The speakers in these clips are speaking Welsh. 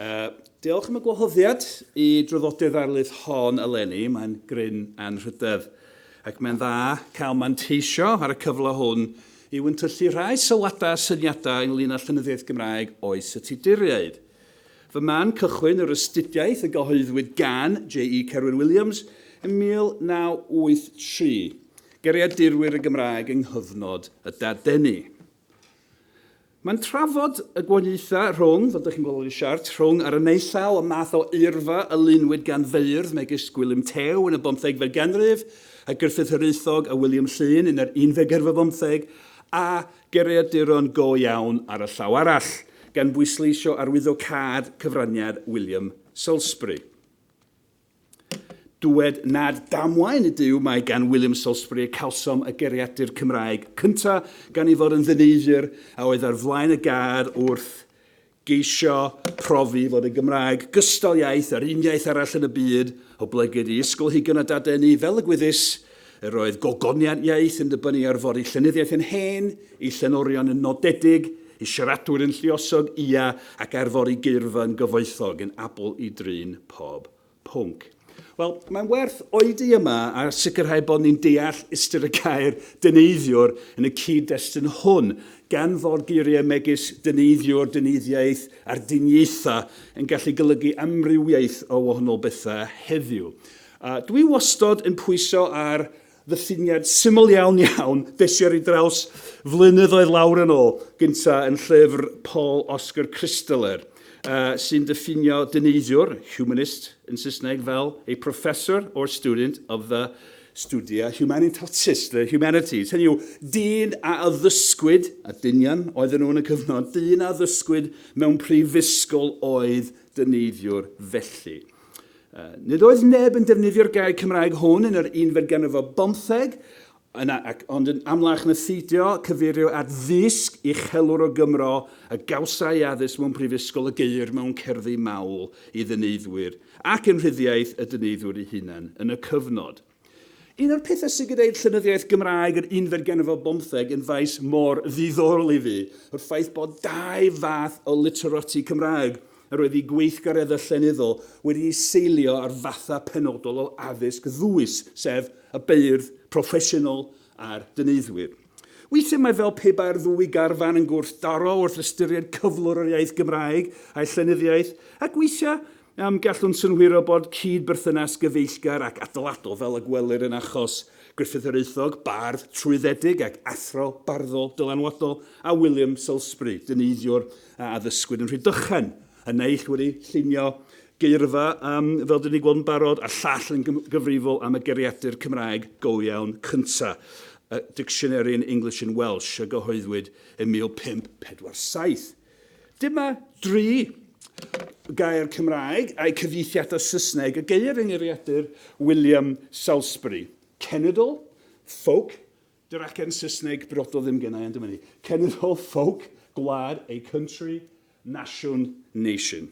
Uh, diolch am y gwahoddiad i draddodiad ddarlith hon eleni. Mae'n gryn anrhydedd ac mae'n dda cael manteisio ar y cyfle hwn i wyntyllu rhai sylwadau a syniadau ynglyn â llenyddiaeth Gymraeg oes y Tuduriaid. Fy man cychwyn yr astudiaeth y gyhoeddwyd gan J.E. Cerwyn Williams yn 1983, Geriad Dirwyr y Gymraeg yng nghyfnod y Dadeni. Mae'n trafod y gwahaniaethau rhwng, fel dych chi'n gweld yn y siart, rhwng ar y naill llaw y math o eirfa a lunwyd gan feirdd megis Gwilym Tew yn y bymthegfed ganrif, a Gruffydd Hiraethog a Wiliam Llŷn yn yr unfed ganrif ar bymtheg, a geiriaduron go iawn ar y llaw arall, gan bwysleisio arwyddo cad cyfraniad William Salisbury. Dywed nad damwain ydyw mai gan William Salisbury y cawsom y geriadur Cymraeg cynta, gan ei fod yn ddyneiddwr a oedd ar flaen y gad wrth geisio profi fod y Gymraeg, gystal iaith â'r un iaith arall yn y byd, oblegid i ysgolheigion a dadeni fel y gwyddys Yr oedd gogoniant iaith yn dibynnu ar fod ei llenyddiaeth yn hen, ei llenorion yn nodedig, ei siaradwyr yn lluosog, ia, ac ar fod ei geirfa yn gyfoethog, yn abl i drin pob pwnc. Wel, mae'n werth oedi yma a sicrhau bod ni'n deall ystyr y gair 'dyneiddiwr' yn y cyd-destun hwn, gan fod geiriau megis 'dyneiddiwr', 'dyneiddiaeth' a'r 'dyniaethau' yn gallu golygu amrywiaeth o wahanol bethau heddiw. A dw i wastod yn pwyso ar ddyffiniad syml iawn iawn des i ar ei draws flynyddoedd lawr yn ôl, gynta yn llyfr Paul Oscar Christaller, uh, sy'n diffinio dyneidiwr, humanist yn Saesneg, fel a professor or student of the studia humanitatis, the humanities. Hynny yw, dyn a addysgwyd, a dynion oedden nhw yn y cyfnod, dyn a addysgwyd mewn prifysgol oedd dyneidiwr felly. Nid oedd neb yn defnyddio'r gair Cymraeg hwn yn yr unfed ganrif ar bymtheg, yna ac ond yn amlach na pheidio cyfeirio at ddysg uchelwr o Gymro a gawsai addysg mewn prifysgol y geir mewn cerddi mawl i ddyneiddwyr ac yn rhyddiaith y dyneiddwyr eu hunain yn y cyfnod. Un o'r pethau sydd gyda'i llenyddiaeth Gymraeg yr unfed ganrif ar bymtheg yn faes mor ddiddorol i fi yw'r ffaith bod dau fath o literati Cymraeg yr oedd eu gweithgareddau llenyddol wedi eu seilio ar fathau penodol o addysg ddwys, sef y beirdd proffesiynol a'r dyneiddwyr. Weithiau mae fel pe bai'r ddwy garfan yn gwrthdaro wrth ystyried cyflwr yr iaith Gymraeg a'i llenyddiaeth, ac weithiau Am gallwn synhwyro bod cyd-berthynas gyfeillgar ac adeiladol fel y gwelir yn achos Gruffydd yr Euthog, bardd trwyddedig ac athro barddol dylanwadol, a William Salisbury, dyneiddwr a addysgwyd yn Rhydychen, y naill wedi llunio geirfa, fel dyn ni'n gweld yn barod, a'r llall yn gyfrifol am y gariadur Cymraeg go iawn cyntaf, y Dictionary in English and Welsh, a gyhoeddwyd yn 1547. Dyma dri gair Cymraeg a'u cyfieithiad o Saesneg y geir yng ngeiriadur William Salisbury, cenedl, folk, dy'r acen Saesneg briodol ddim gennai ond dyma ni, cenedl, folk, gwlad, a country, nasiwn, nation.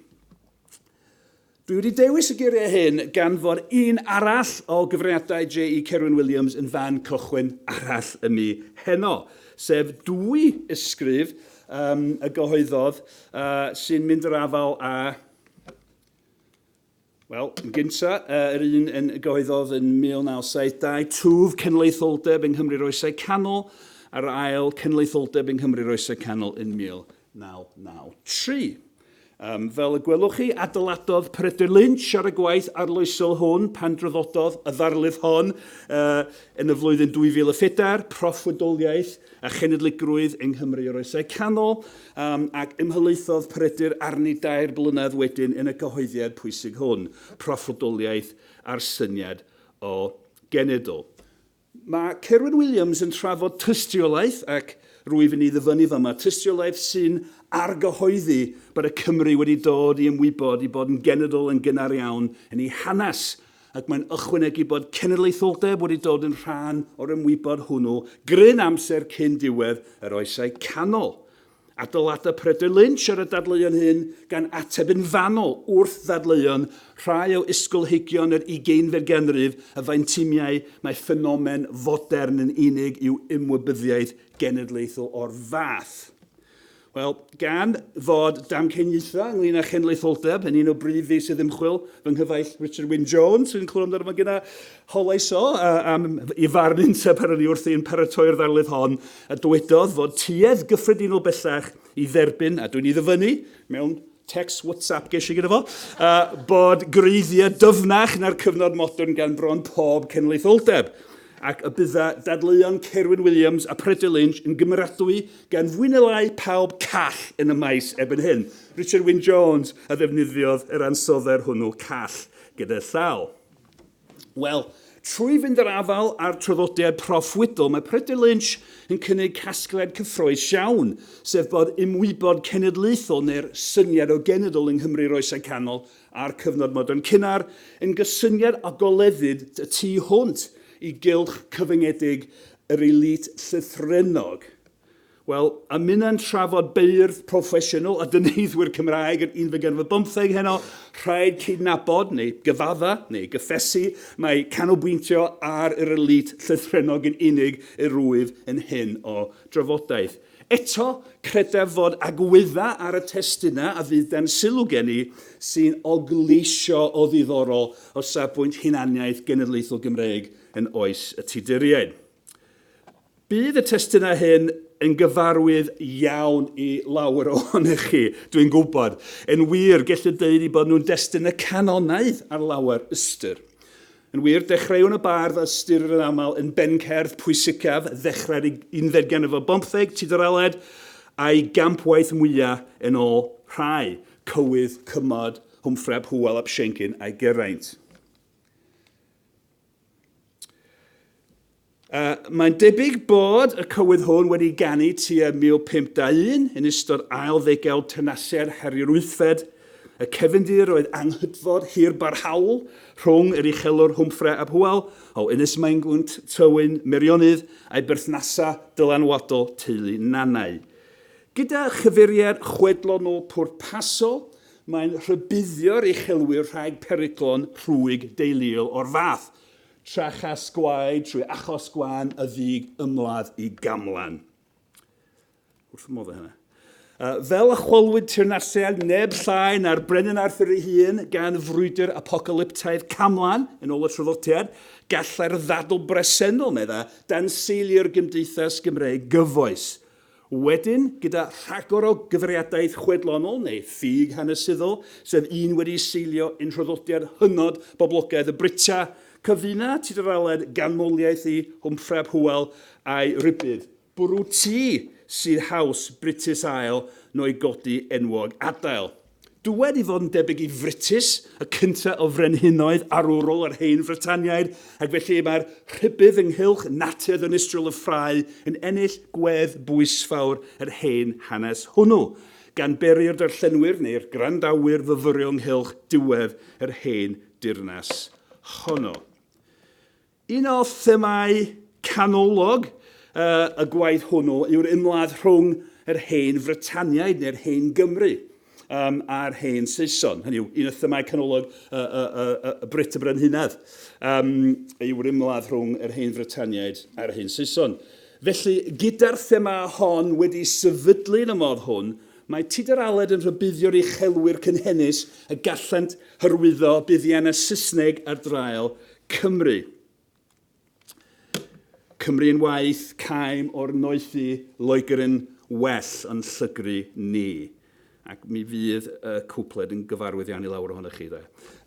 Dwi wedi dewis y geiriau hyn gan fod un arall o gyfraniadau JE Cerwyn Williams yn fan cychwyn arall ym mi heno, sef dwy ysgrif um, y gyhoeddodd uh, sy'n mynd yr afal a Wel, yn gynta, uh, yr un yn gyhoeddodd yn 1972, twf cenlaetholdeb yng Nghymru'r Oesau Canol, a'r ail cenlaetholdeb yng Nghymru'r Oesau Canol yn 1993. Yym, fel y gwelwch chi, adeiladodd Peredur Lynch ar y gwaith arloesol hwn pan draddododd y ddarlith hon yy yn y flwyddyn 2004, Proffwydoliaeth a Chenedligrwydd yng Nghymru yr Oesau Canol, yym, ac ymhelaethodd Peredur arni dair blynedd wedyn yn y cyhoeddiad pwysig hwn, Proffwydoliaeth a'r Syniad o Genedl. Mae Cerwyn Williams yn trafod tystiolaeth, ac rwyf yn ei ddyfynnu fama, tystiolaeth sy'n argyhoeddi bod y Cymry wedi dod i ymwybod i bod yn genedl yn gynnar iawn yn ei hanes, ac mae'n ychwanegu bod cenedlaetholdeb wedi dod yn rhan o'r ymwybod hwnnw gryn amser cyn diwedd yr Oesau Canol. Adeiladau Peredur Lynch ar y dadleuon hyn, gan ateb yn fanwl wrth ddadleuon rhai o ysgolheigion yr ugeinfed ganrif y faentimiai mai ffenomen fodern yn unig yw ymwybyddiaeth genedlaethol o'r fath. Wel, gan fod damcaniaethau ynglyn â chenedlaetholdeb yn un o brif feysydd ymchwil fy nghyfaill Richard Wyn Jones, sy'n clywed amdano fo'n gyna, Holais o am i farn un tŷ pan o'n i wrthi'n paratoi'r ddarlith hon, a dywedodd fod tuedd gyffredinol bellach i dderbyn, a dwi'n ei ddyfynnu mewn text WhatsApp ges i gyda fo, uh, bod gwreiddiau dyfnach na'r cyfnod modern gan bron pob cenedlaetholdeb, ac y bydda dadleuon Cerwyn Williams a Peredur Lynch yn gymeradwy gan fwy neu lai pawb call yn y maes erbyn hyn. Richard Wyn Jones a ddefnyddiodd yr ansoddair hwnnw call gyda llaw. Wel, trwy fynd yr afael â'r traddodiad proffwydol, mae Pryder Lynch yn cynnig casgliad cyffroes iawn, sef bod ymwybod cenedlaethol neu'r syniad o genedl yng Nghymru'r Oesau Canol a'r cyfnod modern cynnar yn gysyniad a goleddid y tu hwnt i gylch cyfyngedig yr elît llythrennog. Wel, a minnau'n trafod beirdd proffesiynol a dyneiddwyr Cymraeg yr unfed ganrif ar bymtheg heno, rhaid cydnabod, neu gyfadda, neu gyffesu, mai canolbwyntio ar yr elît llythrennog yn unig yr wyf yn hyn o drafodaeth. Eto, credaf fod agwedda ar y testunau a fydd dan sylw gen i sy'n ogleisio o ddiddorol o safbwynt hunaniaeth genedlaethol Gymreig yn oes y Tuduriaid. Bydd y testunau hyn yn gyfarwydd iawn i lawer ohonych chi, dw i'n gwybod. Yn wir, gellid dweud eu bod nhw'n destun y canonaidd ar lawer ystyr. Yn wir, dechreuwn y bardd a ystyrir yn aml yn bencerdd pwysicaf ddechrau'r unfed ganrif ar bymtheg, Tudur Aled, a'i gampwaith mwyaf yn ôl rhai, Cywydd, Cymod, Hwmffrey ap Hywel ap Siencyn a'i Geraint. Uh, mae'n debyg bod y cywydd hwn wedi ganu tua 1521 yn ystod ail ddegawd tenaciau'r heriwr wythfed. Y cefndir oedd anghydfod hir barhaol rhwng yr uchelwr Hwmffre ab Hywel o Ynys Maengwnt, Tywyn, Meirionnydd a'i berthnasau dylanwadol teulu Nanau. Gyda chyfeiriad chwedlonol pwrpasol, Mae'n rhybuddio'r uchelwyr rhag peryglon rhwyg deuluol o'r fath, tra chas gwaed trwy achos gwan y ddug ymladd i gamlan. Wrth fy modd â hynna. Uh, fel y chwalwyd teyrnasiad neb llai na'r Brenin Arthur ei hun gan frwydr apocalyptaidd camlan, yn ôl y traddodiad, gallai'r ddadl bresennol, medda, danseilio'r gymdeithas Gymreig gyfoes. Wedyn, gyda rhagor o gyfeiriadaeth chwedlonol neu ffug hanesyddol, sef un wedi seilio yn nhraddodiad hynod boblogaidd y Brita, cyfuna tuduraled ganmoliaeth i Wmffreb Hywel a'i rybudd, bwrw tŷ sydd haws Brutus ail no'i godi enwog adael. Dywed i fod yn debyg i Frytus, y cynta o frenhinoedd arwrol yr Hen Frytaniaid, ac felly mae'r rhybudd ynghylch natur ddinistriol y ffrae yn ennill gwedd bwysfawr yr hen hanes hwnnw, gan beri'r darllenwyr neu'r gwrandawyr fyfyrio ynghylch diwedd yr hen dirnas honno. Un o themâu canolog y gwaith hwnnw yw'r ymladd rhwng yr Hen Frytaniaid, neu'r Hen Gymry, a'r Hen Saeson. Hynny yw, un o themâu canolog y Brut y Brenhinedd yw'r ymladd rhwng yr Hen Frytaniaid a'r Hen Saeson. Felly, gyda'r thema hon wedi sefydlu yn y modd hwn, mae Tudur Aled yn rhybuddio'r uchelwyr cynhenus y gallent hyrwyddo buddiannau Saesneg ar draul Cymru. Cymru yn waith, caem o'r noethu, Loegr yn well yn llygru ni. Ac mi fydd y cwpled yn gyfarwyddianu lawr ohonoch chi, de.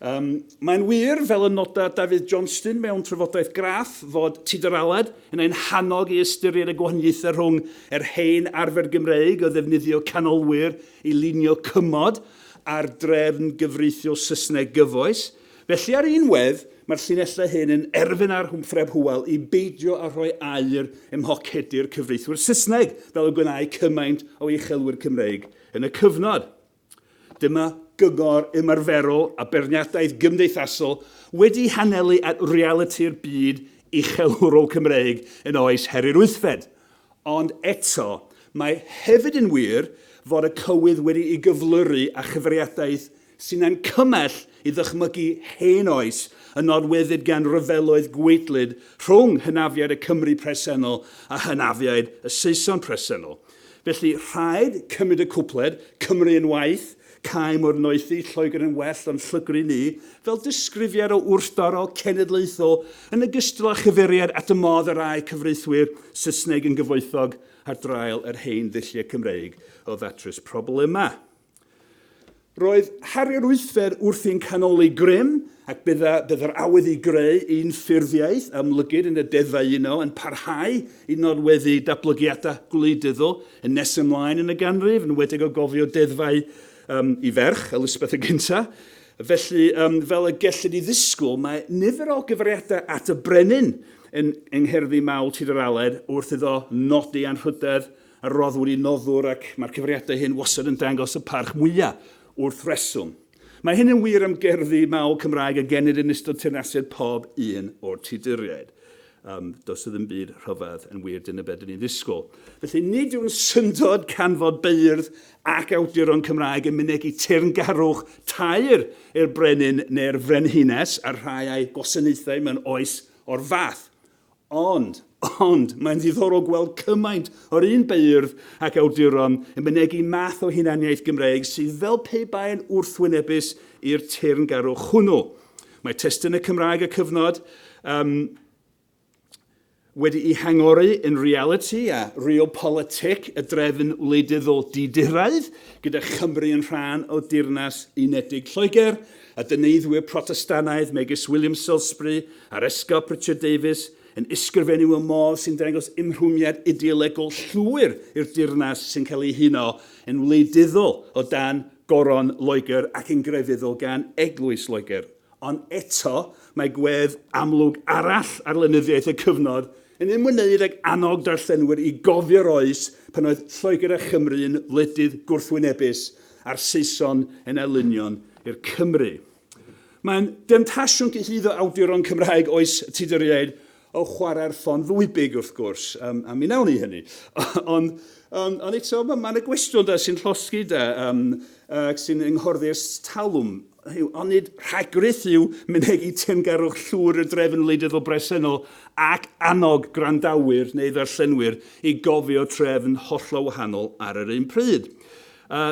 Um, Mae'n wir, fel y noda Dafydd Johnston mewn trafodaeth graff, fod Tudur Aled yn ein hannog i ystyried y gwahaniaethau rhwng yr hen arfer Gymreig o ddefnyddio canolwyr i lunio cymod a'r drefn gyfreithiol Saesneg gyfoes, Felly ar un wedd, mae'r llinellau hyn yn erfyn ar Hwmfreb Hywel i beidio â rhoi aur ym mhocedi'r cyfreithwyr Saesneg fel y gwnâi cymaint o uchelwyr Cymreig yn y cyfnod. Dyma gyngor ymarferol a beirniadaeth gymdeithasol wedi hanelu at realiti'r byd uchelwrol Cymreig yn oes Heri'r Wythfed. Ond eto, mae hefyd yn wir fod y cywydd wedi'i gyflyru â chyfeiriadaeth sy'n ein cymell i ddychmygu hen oes y norwyddid gan ryfeloedd gwaedlyd rhwng hynafiaid y Cymry presennol a hynafiaid y Saeson presennol. Felly, rhaid cymryd y cwpled, Cymru yn waeth, caem o'r noethi, Lloegr yn well o'n llygru ni, fel disgrifiad o wrthdorol cenedlaethol yn ogystal â chyfeiriad at y modd y rai cyfreithwyr Saesneg yn gyfoethog ar draul yr hen ddulliau Cymreig o ddatrys problemau. Roedd Harri'r Wythfed wrthi'n canoli grym ac bydda, bydda'r awydd i greu un ffurfiaeth amlygid yn y deddfau yno yn parhau i nodweddu datblygiadau gwleidyddol yn nes ymlaen yn y ganrif, yn enwedig o gofio deddfau um, i ferch, Elizabeth y Gynta. Felly, um, fel y gellid i ddisgwyl, mae nifer o gyfriadau at y brenin yn yng ngherddi mawl Tir yr Aled wrth iddo nodi anrhydedd a rodd wedi noddwr ac mae'r cyfriadau hyn wastad yn dangos y parch mwyaf wrth reswm. Mae hyn yn wir am gerddi mawl Cymraeg a genid yn ystod teyrnasiad pob un o'r Tuduriaid. Um, does ddim byd rhyfedd yn wir, dyna beth dyn ni'n ddisgwyl. Felly nid yw'n syndod canfod beirdd ac awduron Cymraeg yn mynegu teyrngarwch tair i'r brenin neu'r frenhines a'r rhai a'i gwasanaethau mewn oes o'r fath. Ond, ond, mae'n ddiddorol gweld cymaint o'r un beirdd ac awduron yn mynegi math o hunaniaeth Gymreig sydd fel pe bai'n wrthwynebus i'r teyrngarwch hwnnw. Mae testunau Cymraeg y cyfnod um, wedi'i hangori yn realiti a realpolitic y drefn wleidyddol diduraidd, gyda Chymru yn rhan o Deyrnas Unedig Lloegr, a dyneddwyr Protestannaidd megis William Salisbury a'r Esgob Richard Davies yn ysgrifennu mewn modd sy'n dangos ymrwymiad ideolegol llwyr i'r Deyrnas sy'n cael ei huno yn wleidyddol o dan Goron Loegr ac yn grefyddol gan Eglwys Loegr. Ond eto, mae gwedd amlwg arall ar lenyddiaeth y cyfnod yn ymwneud ag annog darllenwyr i gofio'r oes pan oedd Lloegr a Chymru yn wledydd gwrthwynebus a'r Saeson yn elynion i'r Cymry. Mae'n demtasiwn cyhuddo awduron Cymraeg oes Tuduriaid o chwarae'r ffon ddwybig, wrth gwrs, um, a mi nawn ni hynny. Ond um, on eto, mae'n ma y gwestiwn da sy'n llosgi da, um, uh, sy'n ynghorddi'r talwm yw onid rhagrith yw mynegi teyrngarwch llwyr y drefn wleidyddol bresennol ac annog gwrandawyr neu ddarllenwyr i gofio trefn hollol wahanol ar yr un pryd. A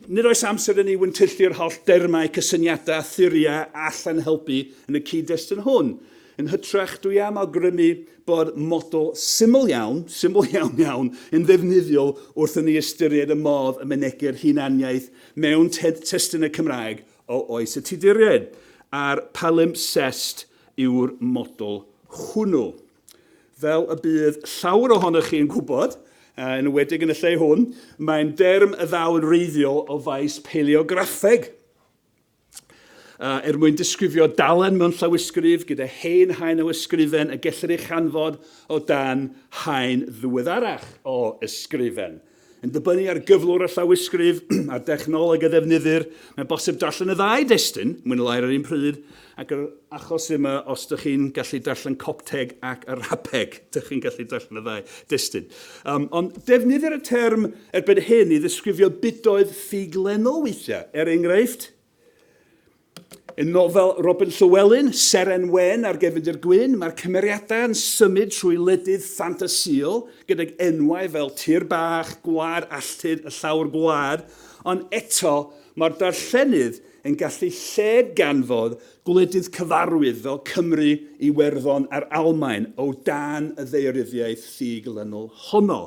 nid oes amser i ni wyntyllu'r holl dermau, cysyniadau a theoriau a allan helpu yn y cyd-destun hwn. Yn hytrach, dwi am awgrymu bod model syml iawn, syml iawn iawn, yn ddefnyddiol wrth i ni ystyried y modd y mynegir hunaniaeth mewn testunau Cymraeg o oes y Tuduriaid, a'r palimpsest yw'r model hwnnw. Fel y bydd llawer ohonoch chi yn gwybod, yn enwedig yn y lle hwn, mae'n derm y ddaw yn wreiddiol o faes paleograffeg. Er mwyn disgrifio dalen mewn llawysgrif gyda hen haen o ysgrifen y gellir ei chanfod o dan haen ddiweddarach o ysgrifen. Yn dibynnu ar gyflwr y llawysgrif a'r dechnoleg a ddefnyddir, mae'n bosib darllen y ddau destun, mwy neu lai ar yr un pryd, ac yr achos yma, os dych chi'n gallu darllen Copteg ac Arabeg, dych chi'n gallu darllen y ddau destun. Um, ond defnyddir y term erbyn hyn i ddisgrifio budoedd ffug lennol weithiau, er enghraifft, Yn nofel Robin Llywelyn, Seren Wen a'r Gefndir Gwyn, mae'r cymeriadau yn symud trwy wledydd ffantasïol gydag enwau fel Tir Bach, Gwlad Alltud, y Llawr Gwlad, ond eto mae'r darllenydd yn gallu lled-ganfod gwledydd cyfarwydd fel Cymru, Iwerddon a'r Almaen o dan y ddeiryddiaeth ffug-lynol honno.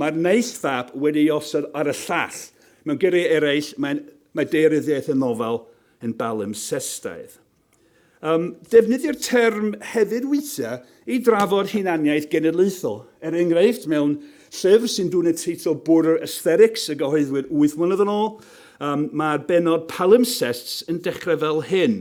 Mae'r naill fap wedi ei osod ar y llall, Mewn geiriau eraill, mae mae daearyddiaeth y nofel yn balimpsestaidd. Um, defnyddio'r term hefyd weithiau i drafod hunaniaeth genedlaethol. Er enghraifft, mewn llyfr sy'n dwyn y teitl Border Aesthetics y gyhoeddwyd wyth mlynedd yn ôl, um, mae'r benod palimpsests yn dechrau fel hyn.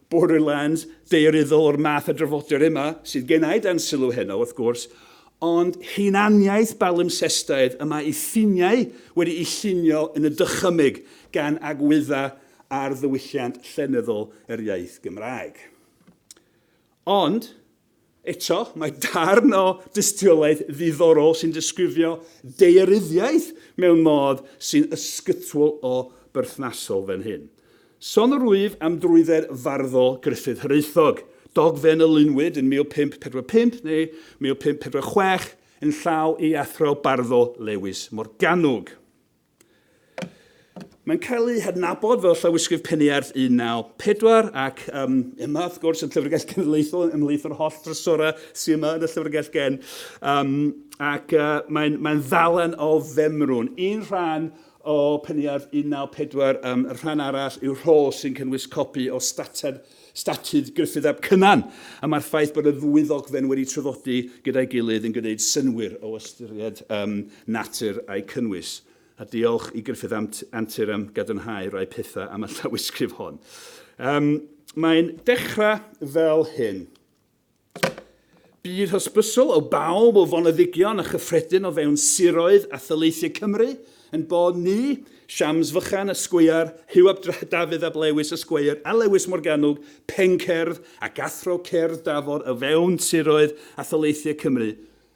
Borderlands daearyddol o'r math a drafodir yma, sydd gennai dan sylw heno, wrth gwrs, ond hunaniaeth balimpsestaidd y mae ei ffiniau wedi'u llunio yn y dychymyg gan agwyddau ar ddiwylliant llenyddol yr iaith Gymraeg. Ond, Eto, mae darn o dystiolaeth ddiddorol sy'n disgrifio daearyddiaeth mewn modd sy'n ysgytwol o berthnasol fan hyn. Son yr wyf am drwydded farddol Gruffydd Hiraethog, dogfen y lunwyd yn 1545 neu 1546 yn llaw ei athro barddol Lewis Morgannwg. Mae'n cael ei hadnabod fel llawysgrif Peniarth 1904 ac um, yma, wrth gwrs, y Llyfrgell Genedlaethol ymhlith yr holl drysorau sy'n yma yn y Llyfrgell Gen. Um, ac uh, mae'n mae ddalen o femrwn. Un rhan o Peniarth 1904, um, y rhan arall yw rhol sy'n cynnwys copi o stater Statud Gruffydd ap Cynan, a mae'r ffaith bod y ddwy ddogfen wedi traddodi gyda'i gilydd yn gwneud synnwyr o ystyried um, natur a'i cynnwys. A diolch i Gruffydd am antur am gadarnhau rai pethau am y llawysgrif hon. Um, mae'n dechrau fel hyn. Bydd hysbysol o bawb o foneddigion a chyffredin o fewn siroedd a thaleithiau Cymru ein bod ni, Siams Fychan, Esquire, Huw ap Dafydd ap Lewis, Esquire, a Lewis Morgannwg, Pencerdd, ac Athro Cerdd Dafod o fewn siroedd a thaleithiau Cymru,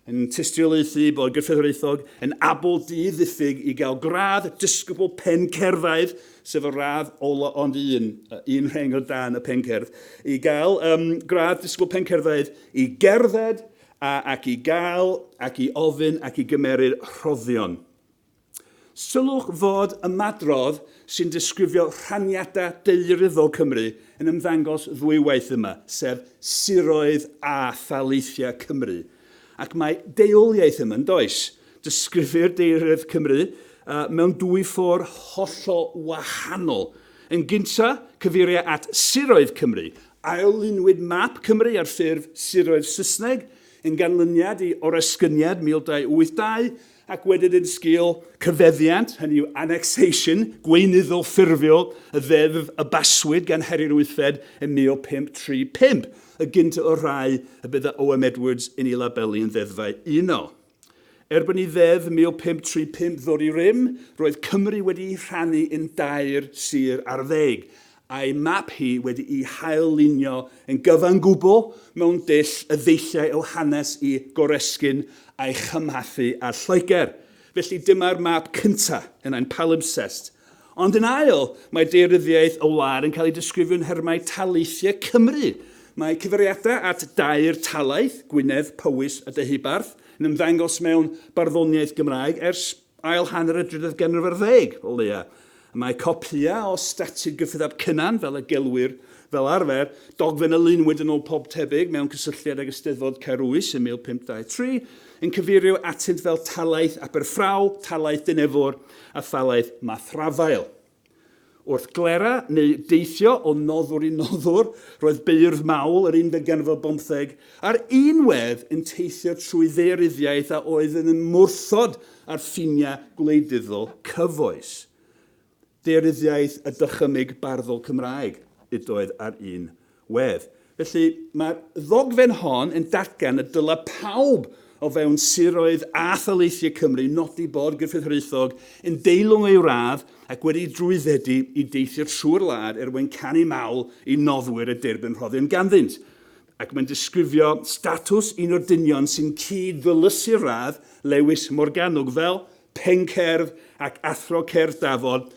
yn tystiolaethu bod gyrffeddwraethog yn abl di-ddiffyg i gael gradd disgybl pencerddaidd, sef y radd ola ond un, un rheng o dan y pencerdd, i gael um, gradd disgybl pencerddaidd i gerdded a, ac i gael ac i ofyn ac i gymeryd rhoddion. Sylwch fod ymadrodd sy'n disgrifio rhaniadau daearyddol Cymru yn ymddangos ddwywaith yma, sef siroedd a thaleithiau Cymru. Ac mae deuoliaeth yma, yn does? Disgrifir daearyddiaeth Cymru mewn dwy ffordd hollol wahanol. Yn gyntaf, cyfeiriau at siroedd Cymru. Ail-lunwyd map Cymru ar ffurf siroedd Saesneg yn ganlyniad i oresgyniad 1282, Ac wedyn yn sgil cyfeddiant, hynny yw annexation, gweinyddol ffurfiol y ddeddf a baswyd gan Harri'r Wythfed yn 1535, y gyntaf o'r rhai y bydd â Oem Edwards yn ei labelu yn ddeddfau unol. Erbyn i Ddeddf 1535 ddod i rym, roedd Cymru wedi'i rhannu yn dair sir ar ddeg, Ei map hi wedi'i hail-lunio yn gyfan gwbl mewn dull y ddeilliai o hanes i goresgyn a'i chymhathu â Lloegr. Felly dyma'r map cyntaf yn ein palimpsest. Ond yn ail, mae daearyddiaeth y wlad yn cael ei disgrifio yn nhermau taleithiau Cymru. Mae cyfeiriadau at dair talaith, Gwynedd, Powys a Deheubarth, yn ymddangos mewn barddoniaeth Gymraeg ers ail hanner y drydedd ganrif ar ddeg o leiaf. Y mae copïau o Statud Gyffredaf Cynan, fel y gelwir fel arfer, dogfen a lunwyd yn ôl pob tebyg mewn cysylltiad ag Eisteddfod Caerwys ym 1523, yn cyfeirio atynt fel Talaith Aberffraw, Talaith Dinefwr a Thalaith Mathrafael. Wrth glera neu deithio o noddwr i noddwr, roedd beirdd mawl yr unfed ganrif bymtheg a'r unwedd yn teithio trwy ddaearyddiaeth a oedd yn ymwrthod â'r ffiniau gwleidyddol cyfoes. Daearyddiaeth y dychymyg barddol Cymraeg ydoedd ar un Wedd. Felly, mae'r ddogfen hon yn datgan y dylai pawb o fewn siroedd a thaleithiau Cymru nodi bod Gruffydd Hiraethog yn deilwng ei wrâd ac wedi drwyddedu i deithio trwy'r wlad er mwyn canu mawl i noddwyr y derbyn rhoddion ganddynt. Ac mae'n disgrifio statws un o'r dynion sy'n cyd-ddylysu'r wrâd, Lewis Morgannwg, fel 'pencerdd ac athro cerdd dafod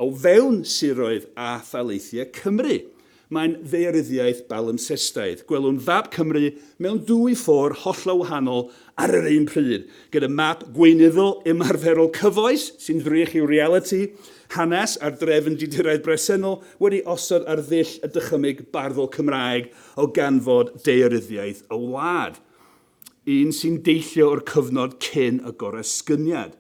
O fewn siroedd a thaleithiau Cymru, mae'n ddaearyddiaeth balimpsestaidd. Gwelwn fap Cymru mewn dwy ffor hollol wahanol ar yr un pryd, gyda map gweinyddol ymarferol cyfoes sy'n ddrych i'w realiti, hanes a'r drefn diduraidd bresennol wedi osod ar ddull y dychymyg barddol Cymraeg o ganfod daearyddiaeth y wlad, un sy'n deillio o'r cyfnod cyn y goresgyniad.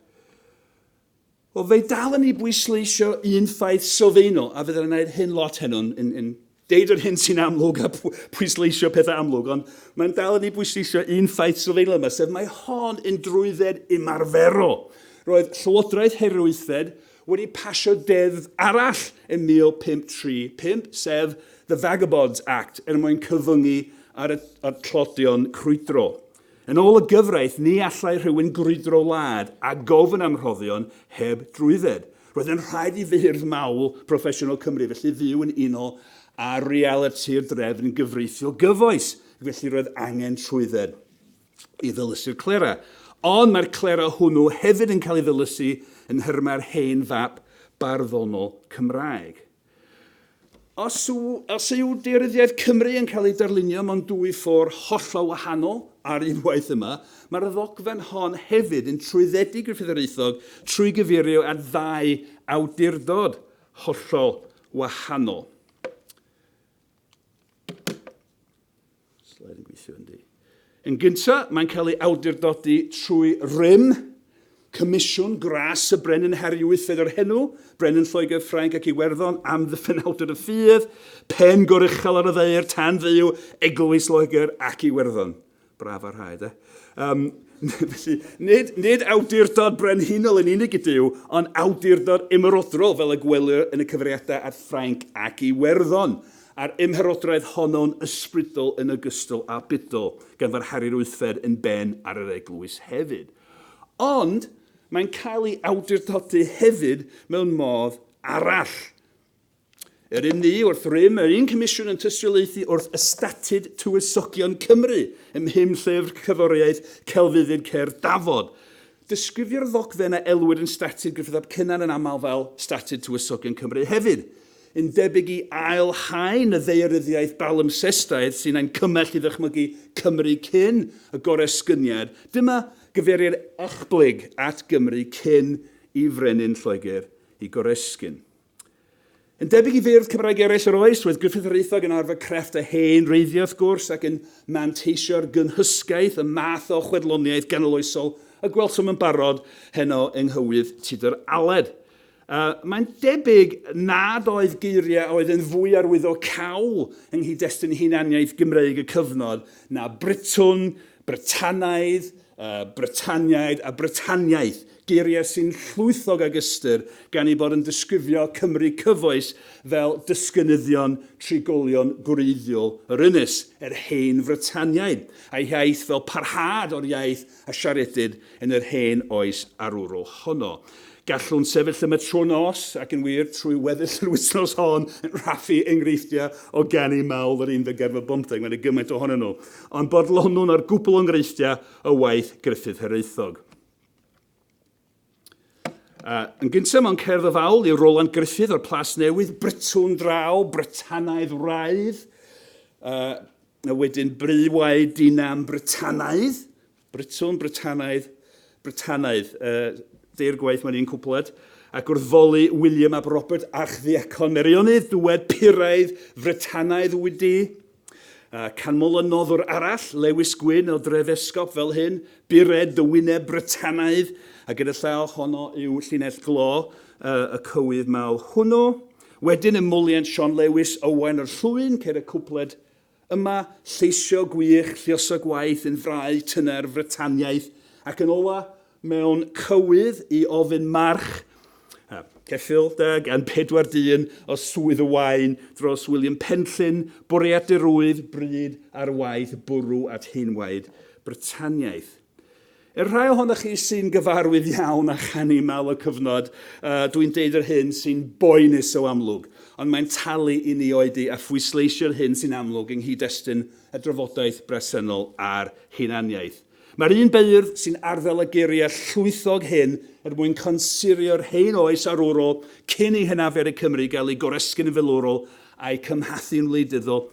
Wel, fe dalen ni bwysleisio un ffaith sylfaenol, a fydden yn gwneud hyn lot heno, yn, yn, yn deud yr hyn sy'n amlwg a pwysleisio pethau amlwg, ond mae'n dalen ni bwysleisio un ffaith sylfaenol yma, sef mae hon yn drwydded ymarferol. Roedd Llywodraeth Herio Wythfed wedi pasio deddf arall yn 1535, sef The Vagabonds Act, er mwyn cyfyngu ar y, ar tlodion crwydrol. Yn ôl y gyfraith, ni allai rhywun grwydro wlad a gofyn am rhoddion heb drwydded. Roedd yn rhaid i feirdd mawl proffesiynol Cymru felly fyw yn unol â realiti'r drefn gyfreithiol gyfoes, ac felly roedd angen trwydded i ddylysu'r clera. Ond mae'r clera hwnnw hefyd yn cael ei ddylysu yn nhermau'r hen fap barddonol Cymraeg. Os yw, os yw Deyryddiaeth Cymru yn cael ei darlunio mewn dwy ffôr hollol wahanol ar unwaith yma, mae'r ddogfen hon hefyd yn trwyddedu Gruffydd yr Aethog trwy gyfeirio at ddau awdurdod hollol wahanol. Slide yn gweithio yn di. Yn gynta, mae'n cael ei awdurdodi trwy rym, Comisiwn Gras y Brenin Harry VIII o'r henw, Brenin Lloegr, Ffrainc ac Iwerddon, am ddyffenawdwr y ffydd, pen goruchel ar y ddaear tan fyw Eglwys Loegr ac Iwerddon. Braf a rhai, de. Um, felly, nid, nid awdurdod brenhinol yn unig ydyw, ond awdurdod ymerodrol fel y gwelir yn y cyfriadau at Ffrainc ac i Werddon, a'r ymherodraeth honno'n ysbrydol yn ogystal â budol, gan fod Harri'r Wythfed yn ben ar yr eglwys hefyd. Ond mae'n cael ei awdurdodi hefyd mewn modd arall. Yr un ni wrth rym, yr un comisiwn yn tystiolaethu wrth Ystatud Tywysogion Cymru ym mhum llyfr cyddoriaeth celfyddyd cerdd Dafod. Disgrifio'r ddogfen a elwir yn Statud Gruffydd ap Cynan yn aml fel Statud Tywysogion Cymru hefyd. Yn debyg i ail haen y ddaearyddiaeth balimpsestaidd sy'n ein cymell i ddychmygu Cymru cyn y Goresgyniad, dyma gyfeirir echblyg at Gymru cyn i frenin Lloegr i goresgyn. Yn debyg i feirdd Cymraeg eraill yr oes, roedd Griffith yr Eithog yn arfer crefft a hen wreiddiau wrth gwrs, ac yn manteisio'r gynhysgaeth, y math o chwedloniaeth ganoloesol y gwelsom yn barod heno yng nghywydd Tudur Aled. Uh, mae'n debyg nad oedd geiriau oedd yn fwy arwyddo cawl yng nghyd-destun hunaniaeth Gymreig y cyfnod na Britwn, Britanaidd, Britaniaid a Britaniaeth, geiriau sy'n llwythog ag ystyr gan eu bod yn disgrifio Cymry cyfoes fel dysgynyddion trigolion gwreiddiol yr ynys, yr Hen Fritaniaid, a'i hiaith fel parhad o'r iaith a siaredid yn yr Hen Oes Arwrol honno. Gallwn sefyll yma trwy'r nos, ac yn wir, trwy weddill yr wythnos hon, yn rhaffu enghreifftiau o ganu mawl yr unfed ganrif ar bymtheg, mae yna gymaint ohonyn nhw, ond bodlonwn ar gwpl o enghreifftiau o waith Gruffydd Hiraethog. Uh, yn gyntaf mewn cerdd o fawl yw Roland Gruffydd o'r Plas Newydd, Brytwn draw, Brytanaidd wraidd, uh, a wedyn Bry Waed Dinam Brytanaidd, Britton, Britanaidd, Britanaidd, yy, deirgwaith mae'n un cwpled, ac wrth foli William ab Robert, Archddiacon Meirionnydd, dywed puraidd Fritanaidd wyt ti. Uh, canmol y noddwr arall, Lewis Gwyn o Drefesgop fel hyn, bured dy wyneb Britanaidd, a gyda llaw honno yw llinell glo uh, y cywydd mawr hwnnw. Wedyn ymwliant Sean Lewis, Owain o'r Llwyn, ceir y cwpled Yma, lleisiau gwych, lluosog gwaith yn frau tyner Frytaniaeth, ac yn ola, mewn cywydd i ofyn march a cheffyl deg yn pedwar dyn o Swydd y Waun dros William Penllyn, bwriadur oedd bryd ar waith bwrw at heinwaed Brytaniaeth. I'r rhai ohonoch chi sy'n gyfarwydd iawn â chanu mawl y cyfnod, dw i'n deud yr hyn sy'n boenus o amlwg, ond mae'n talu i ni oedi a phwysleisio'r hyn sy'n amlwg yng nghyd-destun y drafodaeth bresennol ar hunaniaeth. Mae'r un beirdd sy'n arddel y geiriau llwythog hyn er mwyn consurio'r hen oes arwrol cyn i hynafiad y Cymry gael ei goresgyn yn filwrol a'i cymhathu'n wleidyddol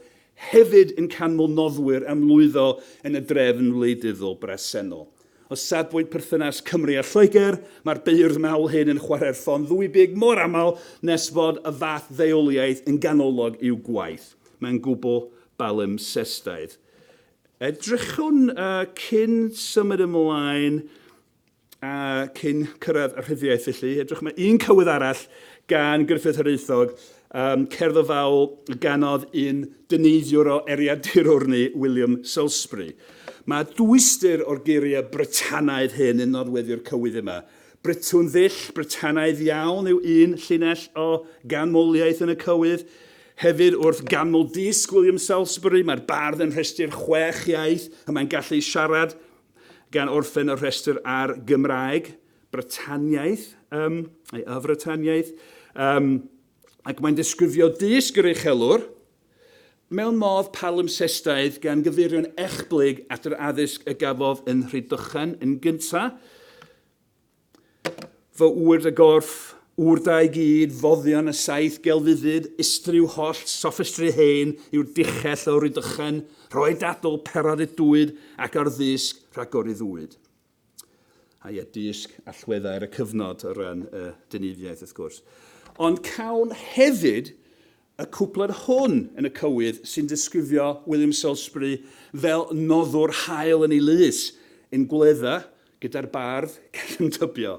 Hefyd yn canmol noddwyr am lwyddo yn y drefn wleidyddol bresennol. O safbwynt perthynas Cymru a Lloegr, mae'r beirdd mawl hyn yn chwarae'r ffon ddwybig mor aml nes fod y fath ddeuoliaeth yn ganolog i'w gwaith. Mae'n gwbl balimpsestaidd. Edrychwn cyn symud ymlaen. a cyn cyrraedd y rhyddiaith felly. Edrych mae un cywydd arall gan Gruffydd Hiraethog, um, cerdd o fawl ganodd un dyneiddiwr o Eriadurwrni, William Salisbury. Mae dwystyr o'r geiriau Britanaidd hyn yn nodweddu'r cywydd yma. Britwn ddull, Britanaidd iawn yw un llinell o ganmoliaeth yn y cywydd. Hefyd wrth ganmol disg William Salisbury, mae'r bardd yn rhestu'r chwech iaith y mae'n gallu siarad, Gan orffen y rhestr ar Gymraeg, Brytaniaeth, ym, neu Y Frytaniaeth, ym, ac mae'n disgrifio dysg yr uchelwr mewn modd palimpsestaidd gan gyfeirio'n echblyg at yr addysg y gafodd yn Rhydychen yn gyntaf, Fy ŵyr y gorff, ŵr da i gyd, foddion y saith gelfyddyd, ystriw holl soffistri hen yw'r dichell o Rydychen, rhoi dadl per ar y dwyd, ac ar ddisg rhagoriddwyd. A ie, dysg allweddau ar y cyfnod o ran y dyneifiaeth, wrth gwrs. Ond cawn hefyd Y cwpled hwn yn y cywydd sy'n disgrifio William Salisbury fel noddwr hael yn ei lys, yn gwledda gyda'r bardd cefn tybio.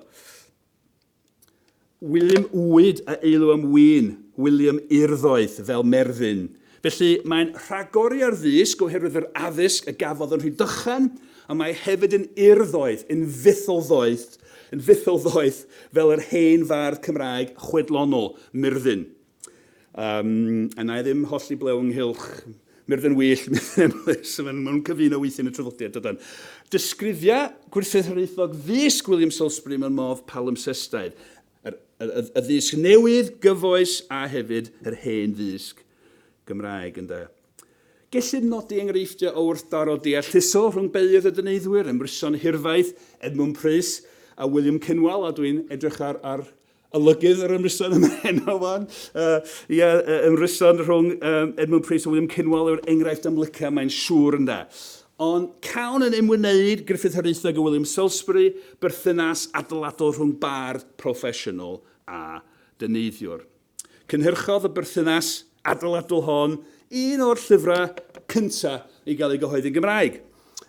William Uwyd a eilw am win, William urddoeth fel merddyn. Felly, mae'n rhagori ar ddysg oherwydd yr addysg y gafodd yn Rhydychen, ond mae hefyd yn urddoeth, yn fytholddoeth, yn fytholddoeth fel yr hen fardd Cymraeg chwedlonol, Myrddin. Yym, a na i ddim hollti blew ynghylch Myrddin Wyllt, Myrddin Emlyn, so maen nhw'n cyfuno weithiau yn y traddodiad, dydan. Disgrifia Gwrthryth Hiraethog ddisg William Salisbury mewn modd palimpsestaidd, yr, y, y, y ddisg newydd, gyfoes, a hefyd yr hen ddisg Gymraeg, ynde. Gellid nodi enghreifftiau o wrthdaro deallusol rhwng beirdd a dyneiddwyr, Emryson Hirfaith, Edmwnd Prys, a William Cynwal, a dwi'n edrych ar, ar Olygydd yr ymryson yma heno fan. Uh, ia, uh, ymryson rhwng um, Edmund Price a William Cynwal yw'r enghraifft amlyca, mae'n siŵr ynda. Ond cawn yn ymwneud Griffith Haraethog a William Salisbury berthynas adeiladol rhwng bardd proffesiynol a dyneiddiwr. Cynhyrchodd y berthynas adeiladol hon un o'r llyfrau cyntaf i gael ei gyhoeddi'n Gymraeg.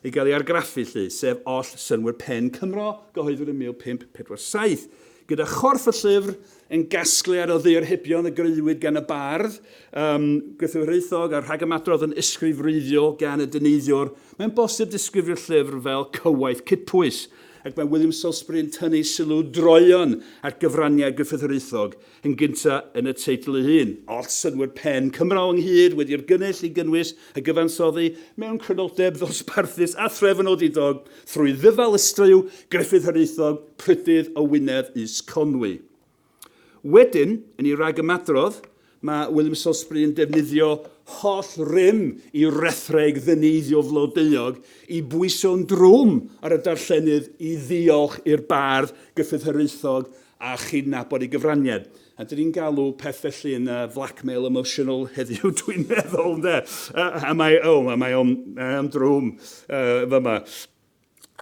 i gael ei argraffu, llu, sef oll synnwyr pen Cymro gyhoeddwyd yn 1547, gyda chorff y llyfr yn gasgliad o ddiarhebion y greuwyd gan y bardd, um, Griffith Hiraethog a rhagymadrodd yn ysgrif wreiddiol gan y dyneiddiwr, mae'n bosib disgrifio'r llyfr fel cywaith cydpwys, ac mae William Salisbury yn tynnu sylw droeon at gyfraniad Griffith Hiraethog yn gyntaf yn y teitl ei hun. Oll synnwyr pen Cymro ynghyd wedi yrgynnull i gynnwys y gyfansoddi mewn crynodeb ddosbarthus a threfnodidog thrwy ddyfal ystreuw Gruffydd Hiraethog, Prydydd o Wynedd is Conwy. Wedyn, yn ei ragymadrodd, mae William Salisbury yn defnyddio holl rym i rethreg ddyneiddio flodeuog i bwyso'n drwm ar y darllenydd i ddiolch i'r bardd Gruffydd Hiraethog a chydnabod ei gyfraniad. A dyn ni'n galw peth felly yn uh, blackmail emotional heddiw, dwi'n meddwl, ynde? Uh, a mae, oh, a mae o'n um, drwm uh, fyma.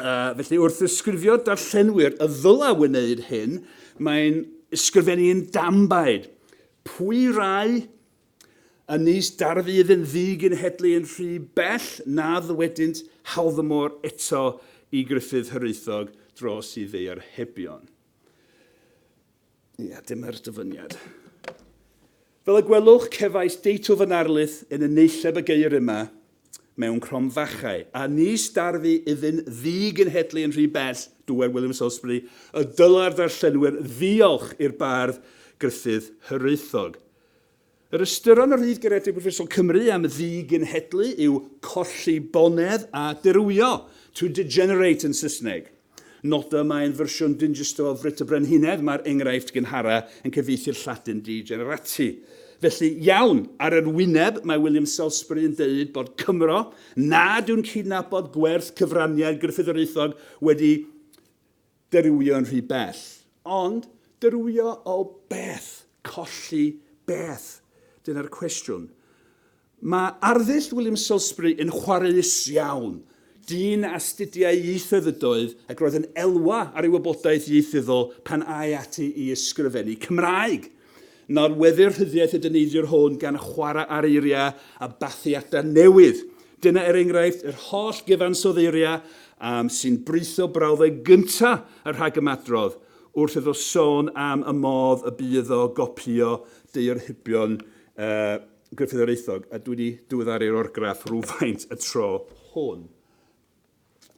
Uh, felly, wrth ysgrifio darllenwyr y ddyla wneud hyn, mae'n ysgrifennu yn dambaid. Pwy rai Yn nis dar fydd yn ddi-genhedlu yn rhy bell na ddywedynt hawdd y môr eto i Gruffydd Hiraethog dros i ddeuor hebion. Ia, dyma'r dyfyniad. Fel y gwelwch, cefais deitl fy narlith yn y neilleb y geir yma mewn cromfachau, a nis darfu iddyn ddi-genhedlu yn rhy bell, dywed William Salisbury, y dylai'r darllenwyr ddiolch i'r bardd Gruffydd Hiraethog. Yr ystyr yn y Rhyd Garedig Brifysgol Cymru am ddi-genhedlu yw colli bonedd a dirywio, to degenerate yn Saesneg. Noda mai yn fersiwn Dingistr o Frit y Brenhinedd mae'r enghraifft gynhara yn cyfieithu'r Lladin degenerati. Felly, iawn, ar yr wyneb mae William Salisbury yn deud bod Cymro nad yw'n cydnabod gwerth cyfraniad Gruffydd yr Aethog wedi Dirywio yn rhy bell. Ond, dirywio o beth? Colli beth? Dyna'r cwestiwn. Mae arddull William Salisbury yn chwareus iawn. Dyn a astudiai ieithoedd ydoedd ac roedd yn elwa ar ei wybodaeth ieithyddol pan ai ati i ysgrifennu Cymraeg. Nodweddir rhyddiaith y dyneidiwr hwn gan chwarae ar eiriau a bathiadau newydd. Dyna er enghraifft yr holl gyfansoddi eiriau am sy'n britho brawddeg gyntaf y rhagymadrodd wrth iddo sôn am y modd y bu iddo gopïo daearhybion Gruffydd yr Aethog, a dwi wedi diweddaru'r orgraff rywfaint y tro hwn.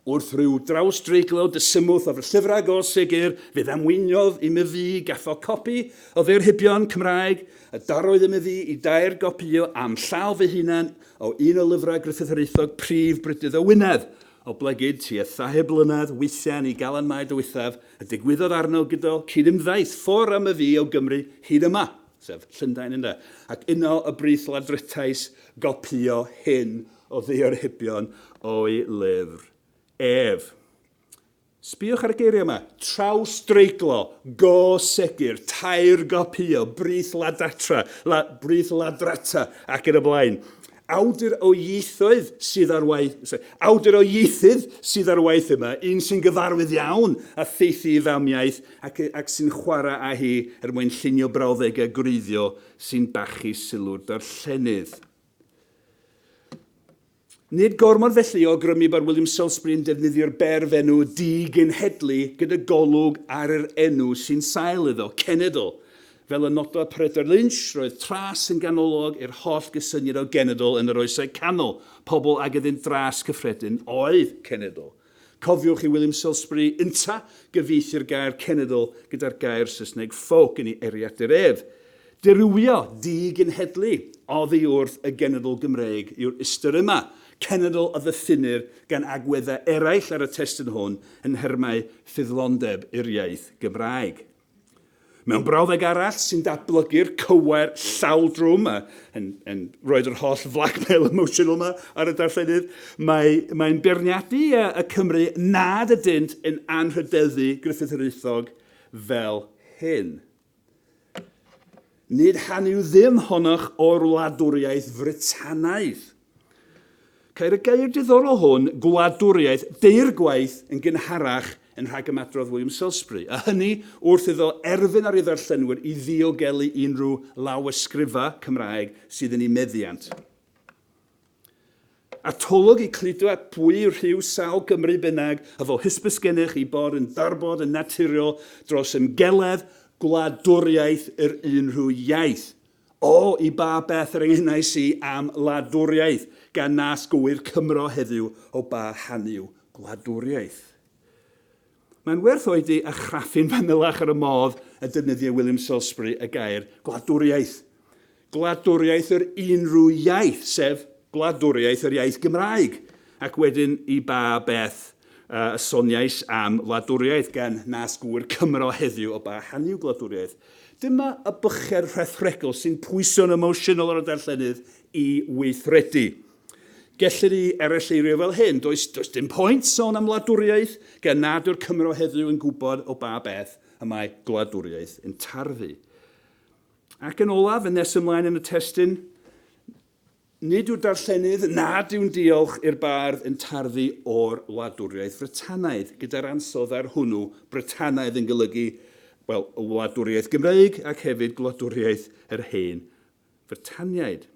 Wrth ryw drawsdreiglo dysymwth o fy llyfrau go segur, fe ddamweiniodd i myfi gatho copi o Ddeyrhybion Cymraeg, a darodd i myfi i dair gopïo a'm llaw fy hunan o un o lyfrau Gruffydd Hiraethog prif brydydd o Wynedd, oblegid tua thair blynedd weithian i Galan Mae Dywythaf, a digwyddodd arno gydo cyd-ymddaeth ffwr a myfi o Gymru hyd yma, sef Llundain ynde, ac yno y brith ladrettais gopïo hyn o ddaearhebion o'i lyfr ef. Sbïwch ar y geiriau yma, trawsdreiglo, go segur, tair gopïo, brith ladatra, la, brith ladrata, ac yn y blaen. Awdur o ieithoedd sydd ar waith, awdur o ieithydd sydd ar waith yma, un sy'n gyfarwydd iawn a theithi i famiaith ac, ac sy'n chwarae â hi er mwyn llunio brawddegau gwreiddiol sy'n bachu sylw'r darllenydd. Nid gormod felly o awgrymu bod William Salisbury yn defnyddio'r berfenw di-genhedlu gyda golwg ar yr enw sy'n sail iddo, cenedl. Fel y nododd Peredur Lynch, roedd tras yn ganolog i'r holl gysyniad o genedl yn yr Oesau Canol, pobl ag iddynt dras cyffredin oedd cenedl. Cofiwch i William Salisbury ynta gyfieithu'r gair cenedl gyda'r gair Saesneg folk yn ei eriadur ef. Dirywio, di-genhedlu, oddi wrth y genedl Gymreig yw'r ystyr yma, cenedl a ddyffinnir gan agweddau eraill ar y testun hwn yn nhermau ffyddlondeb i'r iaith Gymraeg. Mewn brawddeg arall sy'n datblygu'r cywair llaw drwm, a yn, yn roed yr holl flagmail emotional yma ar y darllenydd, mae'n mae beirniadu y Cymru nad ydynt yn anrhydeddu Griffith yr Euthog fel hyn. Nid hanu ddim honnoch o'r wladwriaeth Frytanaidd. Ceir y gair diddorol hwn, gwladwriaeth, deirgwaith yn gynharach yn rhagymadrodd William Salisbury, a hynny wrth iddo erfyn ar ei ddarllenwyr i ddiogelu unrhyw lawysgrifau Cymraeg sydd yn eu meddiant. Atolwg i cludo at bwy yw rhyw sawl Gymry bynnag, a fo hysbys gennych ei bod yn darbod yn naturiol dros ymgeledd gwladwriaeth yr unrhyw iaith. O, i ba beth yr engynnais i am wladwriaeth, gan nas gywir Cymro heddyw o ba han yw gwladwriaeth. Mae'n werth oedi a chraffu'n fanylach ar y modd y defnyddiai William Salisbury y gair gwladwriaeth. Gwladwriaeth yr unrhyw iaith, sef gwladwriaeth yr iaith Gymraeg, ac wedyn i ba beth y soniais am wladwriaeth, gan nas gywir Cymro heddyw o ba han yw gwladwriaeth. Dyma y bychedd rhethregol sy'n pwyso'n emosiynol ar y darllenydd i weithredu. Gellir ei erylleurio fel hyn, does, does dim pwynt sôn am wladwriaeth gan nad yw'r Cymro heddiw yn gwybod o ba beth y mae gwladwriaeth yn tarfu. Ac yn olaf, yn nes ymlaen yn y testun, Nid yw'r darllenydd nad yw'n diolch i'r bardd yn tarddu o'r wladwriaeth Frytanaidd, gyda'r ansawdd ar hwnnw, Brytanaidd yn golygu, wel, y wladwriaeth Gymreig ac hefyd gwladwriaeth yr hen Frytaniaid.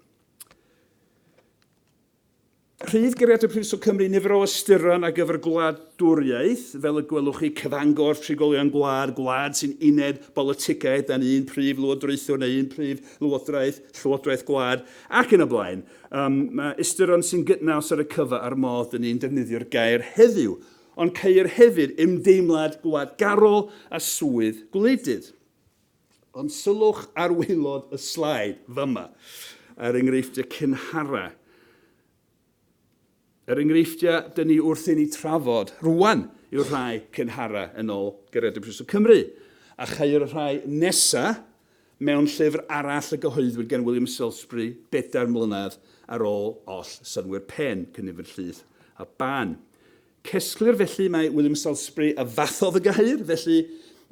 Rhydd gariad y Prifysgol Cymru nifer o ystyron ar gyfer gwladwriaeth, fel y gwelwch chi, cyfangor trigolion gwlad, gwlad sy'n uned bolitigaidd dan un prif lywodraethwr neu un prif lywodraeth, llywodraeth gwlad, Ac yn y blaen. Yym, mae ystyron sy'n gydnaws ar y cyfa a'r modd dyn ni'n defnyddio'r gair heddiw, ond ceir hefyd ymdeimlad gwladgarol a swydd gwleidydd. Ond sylwch ar waelod y slaid, fama, ar enghreifftiau cynharaf. Yr enghreifftiau dŷn ni wrth inni trafod rwan yw'r rhai cynharau yn ol Gariadon Prifysgol Cymru, a chau'r y rhai nesa mewn llyfr arall y gyhoeddwyd gan William Salisbury bedair mlynedd ar ol oll synnwyr pen, cynifer llith a ban. Cesglir felly mai William Salisbury a fathodd y gair, felly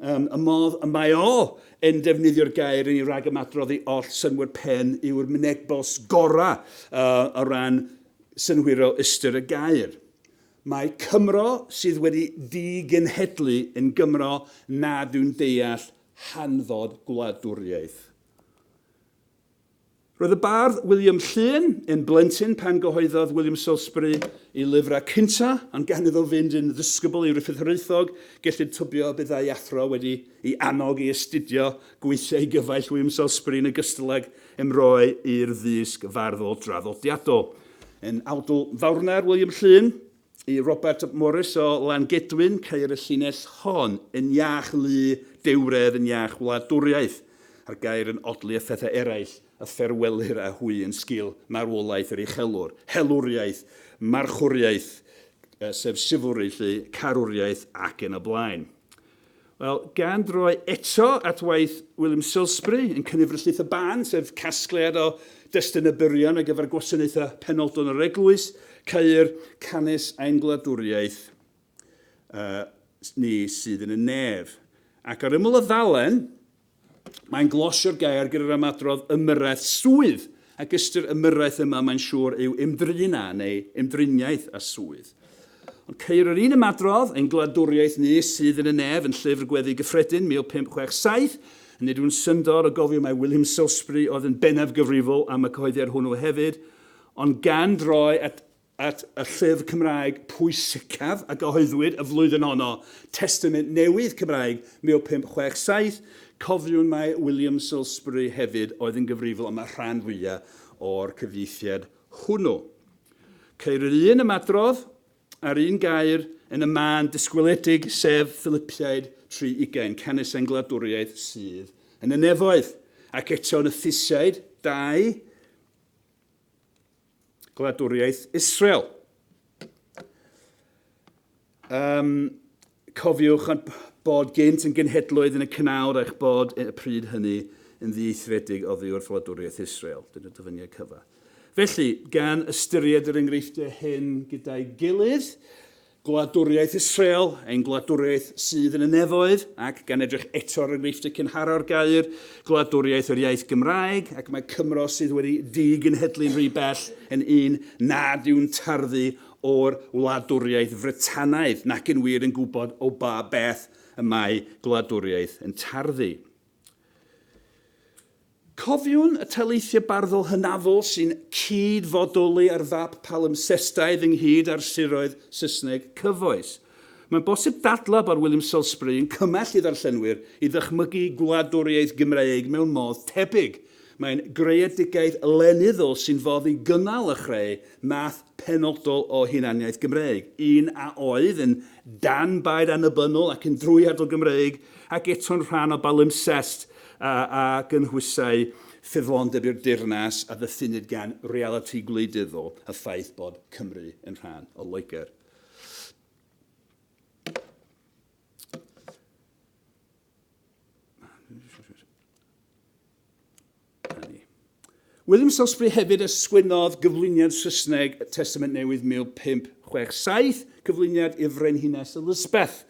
ym y modd y mae o yn defnyddio'r gair inni rag ymadrodd i oll synnwyr pen yw'r mynegbost gorau o ran synhwyrol ystyr y gair. Mae Cymro sydd wedi digenhedlu yn Gymro nad yw'n deall hanfod gwladwriaeth. Roedd y bardd William Llŷn yn blentyn pan gyhoeddodd William Salisbury ei lyfrau cyntaf, ond gan iddo fynd yn ddisgybl i Ruffydd Hiraethog, gellid tybio y byddai athro wedi i annog i astudio gweithiau gyfaill William Salisbury yn ogystal ag ymroi i'r ddysg farddol draddodiadol. Yn awdl fawrna'r William Llŷn i Robert Morris o Langedwyn, ceir y llinell hon, yn iach lu dewredd yn iach wladwriaeth, a'r gair yn odli a phethau eraill a fferwellir â hwy yn sgil marwolaeth yr uchelwr, helwriaeth, marchwriaeth, sef chivalry 'lly, carwriaeth ac yn y blaen. Wel, gan droi eto at waith William Silsbury yn Cyniffryllith y Ban, sef casgliad o destunau byrion ar gyfer gwasanaethau penodol yn yr eglwys, ceir canys ein gwladwriaeth ni sydd yn y nef. Ac ar ymyl y ddalen, Mae'n glosio'r gair gyda'r ymadrodd ymyrraeth swydd, ac ystyr ymyrraeth yma mae'n siŵr yw ymdrin â neu ymdriniaeth â swydd. Ond ceir yr un ymadrodd yn Gwladwriaeth Ni sydd yn y Nef yn Llyfr Gweddi Gyffredin 1567, a nid yw'n syndod o gofio mai William Salisbury oedd yn bennaf gyfrifol am y cyhoeddiad hwnnw hefyd, ond gan droi at at y llyfr Cymraeg pwysicaf a gyhoeddwyd y flwyddyn honno, Testament Newydd Cymraeg 1567. Cofiwn mai William Salisbury hefyd oedd yn gyfrifol am y rhan fwyaf o'r cyfieithiad hwnnw. Ceir yr un ymadrodd a'r un gair yn y mân disgwyledig, sef Philipiaid tri ugain, canys ein gwladwriaeth sydd yn y nefoedd, ac eto yn y Thusiaid, dau, Gwladwriaeth Israel. Um, cofiwch bod gynt yn genhedloedd yn y cynawr eich bod y pryd hynny yn ddieithredig oddi wrth wladwriaeth Israel. Dyna dyfyniad cyfa. Felly, gan ystyried yr enghreifftiau hyn gyda'i gilydd, Gwladwriaeth Israel, ein gwladwriaeth sydd yn y nefoedd, ac, gan edrych eto ar enghreifftiau cynhara'r gair, gwladwriaeth yr iaith Gymraeg, ac mae Cymro sydd wedi digenhedlu'n rhy bell yn un nad yw'n tarddu o'r wladwriaeth Frytanaidd nac yn wir yn gwybod o ba beth y mae gwladwriaeth yn tarddu. Cofiwn y taleithiau barddol hynafol sy'n cyd-fodoli ar fap palimpsestaidd ynghyd â'r siroedd Saesneg cyfoes. Mae'n bosib dadlau bod William Salisbury yn cymell i ddarllenwyr i ddychmygu gwladwriaeth Gymreig mewn modd tebyg. Mae'n greadigaeth lenyddol sy'n fodd i gynnal a chreu math penodol o hunaniaeth Gymreig, un a oedd yn dan-baid annibynnol ac yn drwyadl Gymreig ac eto'n rhan o balimpsest a a gynhwysai ffyddlondeb i'r deyrnas a ddyffynnid gan realiti gwleidyddol a ffaith bod Cymru yn rhan o Loegr. William Salisbury hefyd a sgwennodd gyflwyniad Saesneg y Testament Newydd 1567, cyflwyniad i'r Frenhines Elizabeth,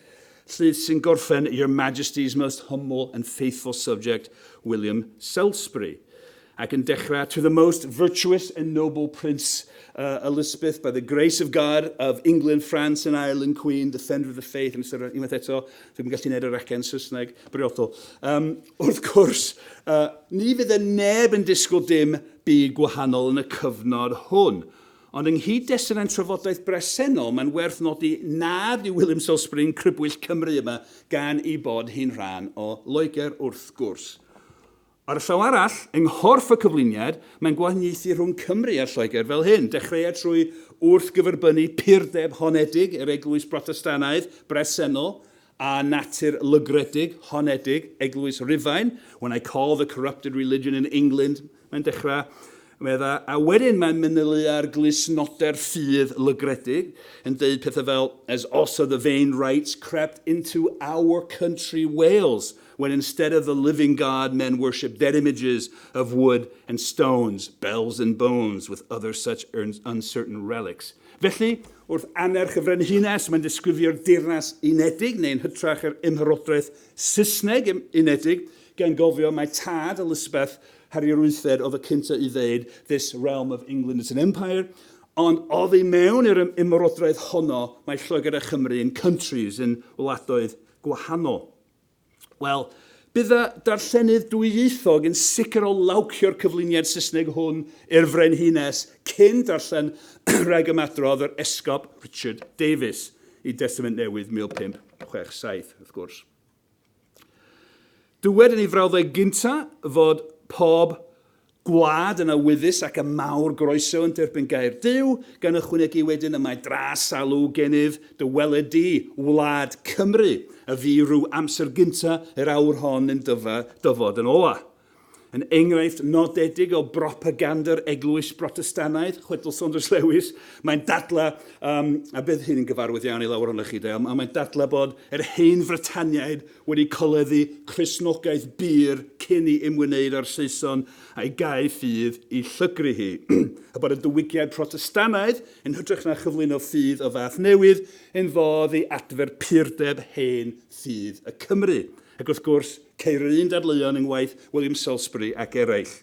llys sy'n gorffen Your Majesty's most humble and faithful subject, William Salisbury, ac yn dechrau To the most virtuous and noble Prince uh, Elizabeth, by the grace of God, of England, France and Ireland, Queen, defender of the faith, yn ystod unwaith eto, dwi'm yn gallu gwneud yr acen Saesneg briodol. Um, Wrth gwrs, ni fydde neb yn disgwyl dim byd gwahanol yn y cyfnod hwn. Ond yng nghyd-destun ein trafodaeth bresennol, mae'n werth nodi nad yw William Salisbury yn crybwyll Cymru yma gan ei bod hi'n rhan o Loegr, wrth gwrs. Ar y llaw arall, yng nghorff y cyflwyniad, mae'n gwahaniaethu rhwng Cymru a Lloegr fel hyn, Dechreuai trwy wrthgyferbynnu purdeb honedig yr Eglwys Brotestannaidd bresennol a natur lygredig, honedig, Eglwys Rufain, when I call the corrupted religion in England, mae'n dechrau, meddai, a wedyn mae'n manylu ar glustnoder ffydd lygredig, yn deud pethau fel, as also the vain rites crept into our country Wales, when instead of the living God men worship dead images of wood and stones, bells and bones, with other such uncertain relics. Felly, wrth annerch y Frenhines, mae'n disgrifio'r Deyrnas Unedig, neu yn hytrach yr Ymherodraeth Saesneg Unedig, gan gofio mai tad Elizabeth, Harri yr Wythfed, oedd y cyntaf i ddeud This realm of England is an empire, ond oddi mewn i'r ymerodraeth honno mae Lloegr a Chymru yn countries, yn wladoedd gwahanol. Wel, bydd y darllenydd dwyieithog yn sicr o lawcio'r cyflwyniad Saesneg hwn i'r Frenhines cyn darllen rhag ymadrodd yr Esgob Richard Davies i Destament Newydd 1567, wrth gwrs. Dywed yn ei frawddeg gynta fod pob Gwlad yn awyddus ac â mawr groeso yn derbyn gair Duw, gan ychwanegu wedyn y mae dra salw genyf, dy weled di, wlad Cymru, a fu rhyw amser gynta yr awr hon yn dyfa, dyfod yn ola. Yn enghraifft nodedig o bropaganda'r Eglwys Brotestanaidd, chwedl Saunders Lewis, mae'n dadla, um, a bydd hyn yn gyfarwydd iawn i lawer ohonoch chi, de, ond mae'n dadla bod yr Hen Frytaniaid wedi coleddu Cristnogaeth bur cyn i ymwneud â'r Saeson a'i gau ffydd i llygru hi, a bod y diwygiad Protestannaidd, yn hytrach na chyflwyno ffydd o fath newydd, yn fodd i adfer purdeb hen ffydd y Cymry. Ac wrth gwrs, ceir yr un dadleuon yng ngwaith William Salisbury ac eraill.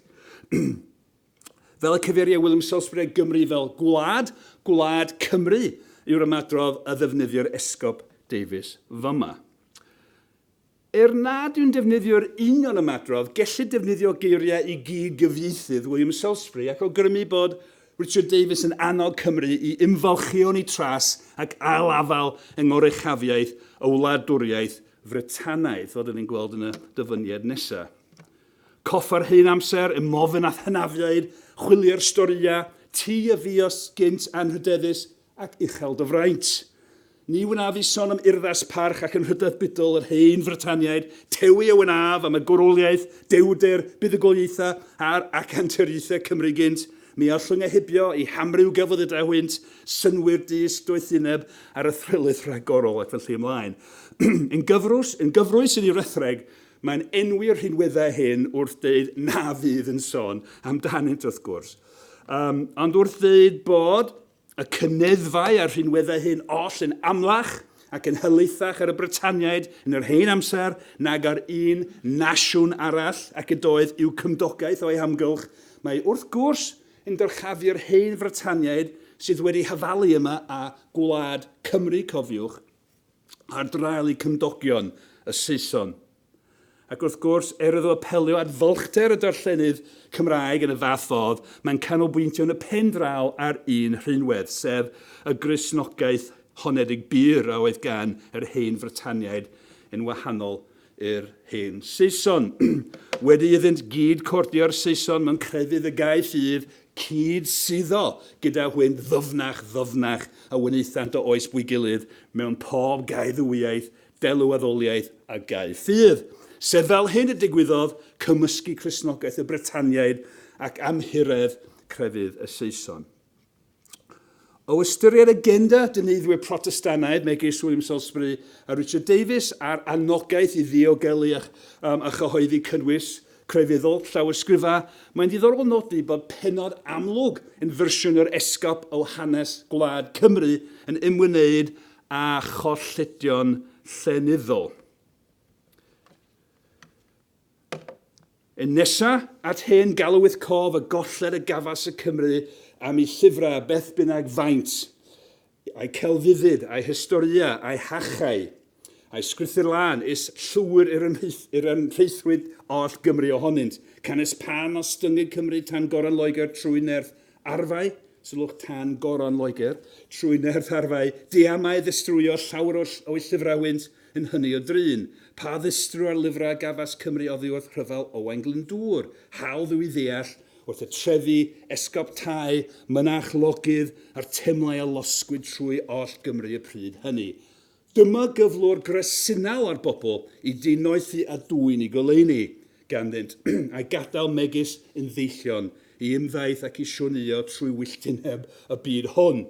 Fel y cyfeiria William Salisbury ar Gymru fel gwlad, gwlad Cymru yw'r ymadrodd a ddefnyddio'r Esgob Davies fama. Er nad yw'n defnyddio'r union ymadrodd, gellid defnyddio geiriau i gyd-gyfieithydd William Salisbury ac awgrymu bod Richard Davies yn annog Cymru i ymfalchïo yn ei tras ac ail-afael yng ngoruchafiaeth y wladwriaeth Frytanaidd, fel 'da ni'n gweld yn y dyfyniad nesaf. Cof yr hen amser, y mofn a'th hynafiaid, chwilie'r storïau, ti a fi os gynt anrhydeddus ac uchel dy fraint. Ni wnaf i son am urddas parch ac anrhydedd budol yr hen Frytaniaid, tewi a wnaf am y gwroliaeth, dewrder, buddugoliaethau a'r acanturiaethau Cymru gynt, mi allwn eu hybio i hamryw gelfyddydau hwynt, synnwyr dyst, doethineb, a'r athrylith rhagorol, ac felly ymlaen. yn gyfrwys, yn gyfrwys yn ei rethreg, Mae'n enwi'r rhinweddau hyn wrth ddeud na fydd yn sôn amdanynt wrth gwrs, um, ond wrth ddeud bod y cyneddfau a'r rhinweddau hyn oll yn amlach ac yn hylaethach ar y Brytaniaid yn yr hen amser nag ar un nasiwn arall ac ydoedd i'w cymdogaeth o'i hamgylch. Mae wrth gwrs yn dyrchafu'r hen Frytaniaid sydd wedi hyfalu yma a gwlad Cymru, cofiwch, ar draul i cymdogion y Saeson. Ac wrth gwrs, er iddo apelio at fylchder y darllenydd Cymraeg yn y fath fodd, mae'n canolbwyntio yn y pen draw ar un rhinwedd, sef y Gristnogaeth honedig bur a oedd gan yr Hen Frytaniaid yn wahanol yr hen Saeson. Wedi iddynt gyd cordio'r Saeson mewn crefydd y gaill i'r cyd suddo gyda hwynt ddyfnach ddyfnach a wnaethant o oes bwy gilydd mewn pob gaeddywyaeth, delw-addoliaeth a gae ffydd. Sef fel hyn y digwyddodd cymysgu Cristnogaeth y Britaniaid ac amhuredd crefydd y Saeson. O ystyried agenda dyneddwyr Protestannaidd megis William Salisbury a Richard Davies a'r anogaeth i ddiogelu a, um, a chyhoeddi cynnwys crefyddol llawysgrifau, mae'n ddiddorol nodi bod penod amlwg yn fersiwn yr Esgob o hanes gwlad Cymru yn ymwneud â cholledion llenyddol. Yn nesa at hen galwyth cof y golled y gafas y Cymry am i llyfrau, beth bynnag faint, a'i celfyddyd, a'i hystoria, a'i hachau, a'i sgrithyr lân, is llwyr i'r ymhreithrwydd oll Gymru ohonynt, canys pan ostyngyg Cymru tan goron Loegr trwy nerth Arfau, sylwch tan goron Loegr, trwy nerth arfau, diamau ddistrwyo llawer o'u llyfrau wynt yn hynny o drin. Pa ddistru ar lyfrau a gafas Cymru oddi wrth rhyfel Owain Glyndŵr? Hawdd yw i ddeall, wrth y trefi, esgob Tŷ, mynach, logydd, a'r temlau a losgwyd trwy oll Gymru y pryd hynny. Dyma gyflwr gresinau ar bobl i dinoethi a dwyn i goleuni ganddynt, a'u gadael megis yn ddeillion i ymddaith ac i sioneio trwy wylltineb y byd hwn,